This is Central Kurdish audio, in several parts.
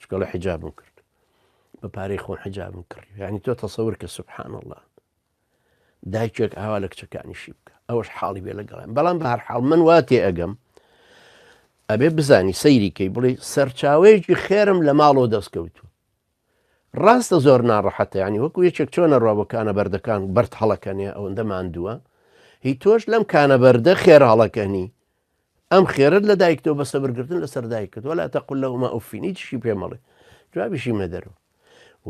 چکۆڵە حیجابم کرد بە پارەی خۆم حیجابم کرد یعنی تۆ تەسەور کە سبحان الله دایکێک ئاوا لە کچەکانیشی بکە ئەوەش حاڵی بێ لەگەڵم بەڵام بە هەر حاڵ من وا تێ ئەگەم ئەبێ بزانی سەیریکەی بڵێ سەرچاوەیەکی خێرم لە ماڵەوە دەستکەوتو ڕاستە زۆر ناڕەحەتە ینی وەکو یەکێک چۆنە ڕۆبەکانە بەردەکان بەرد هەڵەکەنێ ئەوەندە ماندووە هی تۆش لەم کانە بەردە خێراڵەکەنی ئەم خێرت لە دایکتەوە بە سەبرگرتن لەسەر دایکت وەلا تەقل لەهما ئوفین هیچشی پێ مەڵێ جوابیشی مەدەرو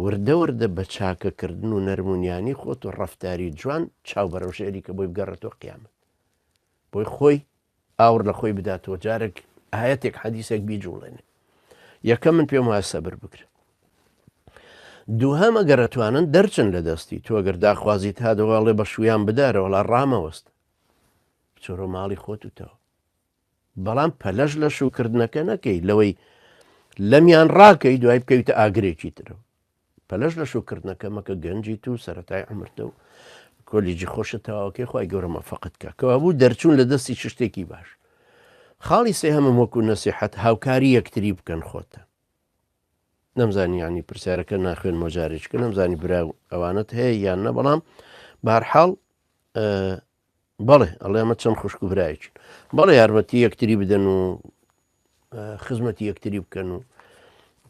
وردە وردە بە چاکەکردن و نەرمونیانی خۆت و ڕفتاری جوان چاو بەرەو ژێری کە بۆی بگەڕێتەوە قیامەت بۆی خۆی ئاور لە خۆی بداتەوە جارێک ئاەتێک حەدیسێک بیجوڵێنێ یەکە من پێم وایە سەبر بکرێت دووهەمە گەرەتوانن دەرچن لە دەستی تۆگەر داخوازیت هادەواڵێ بە شویان بدارەوەڵا ڕامەوەست بچۆرۆ ماڵی خۆتتەوە بەڵام پەلەش لە شوکردنەکە نەکەی لەوەی لەمیان ڕاکەی دوای بکەویتە ئاگرێکی ترە پەلەش لە شوکردنەکە مەکە گەنجی تو سەتای ئەمرتە و کۆلیجی خۆشە تاواکەی خی گەورەمە فقت کە کەوا بوو دەرچوون لە دەستی شتێکی باش خاڵی سێ هەمم وەکو نەسیحەت هاوکاری یەکتری بکەن خۆتە نەمزانی یانی پرسیارەکە ناخوێن مۆجارێککە نەمزانی برا ئەوانت هەیە یان نە بەڵام بارحاڵ بەڵێ ئەڵێ ئەمە چەند خوشک و برایکی بەڵێ یارمەتی یەکتری بدەن و خزمەتی یەکتری بکەن و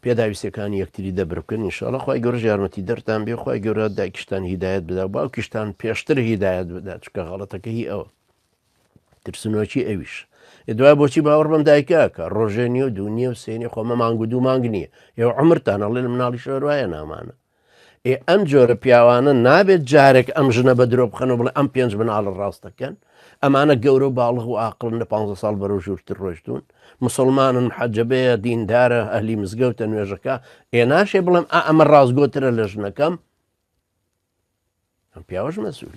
پێداویستەکانی یەکتری دەبر بکەن نیشاڵە خخوای گەۆژ یارمەتی دەرتان بێ خخوای گەورە دایکشتان هیدایەت بدا باوکیشتان پێشتر هیدایەت بدا چکە غەڵەتەکە هی ئەوە ترسنۆکی ئەویش دوای بۆچی باوەڕ بەم دایکە کە ڕۆژێ نیە و دوونیە و سێنی خۆمە مانگ و دوو مانگ نییە ئێوە عمرتان هەڵێ لە مناڵی شۆروایە نامانە ئێ ئەم جۆرە پیاوانە نابێت جارێک ئەم ژنە بە درۆ بخەنە بڵێ ئەم پێنج مناڵە ڕاستەکەن ئەمانە گەورە و باڵغ و ئاقلن لە 15 ساڵ بەرەو ژوورتر ڕۆشتون مسلمانن حەجەبەیە دیندارە ئەهلی مزگەوتە نوێژەکە ئێ ناشێ بڵێم ئەمە ڕاستگۆترە لە ژنەکەم ئەم پیاوەش مەسوول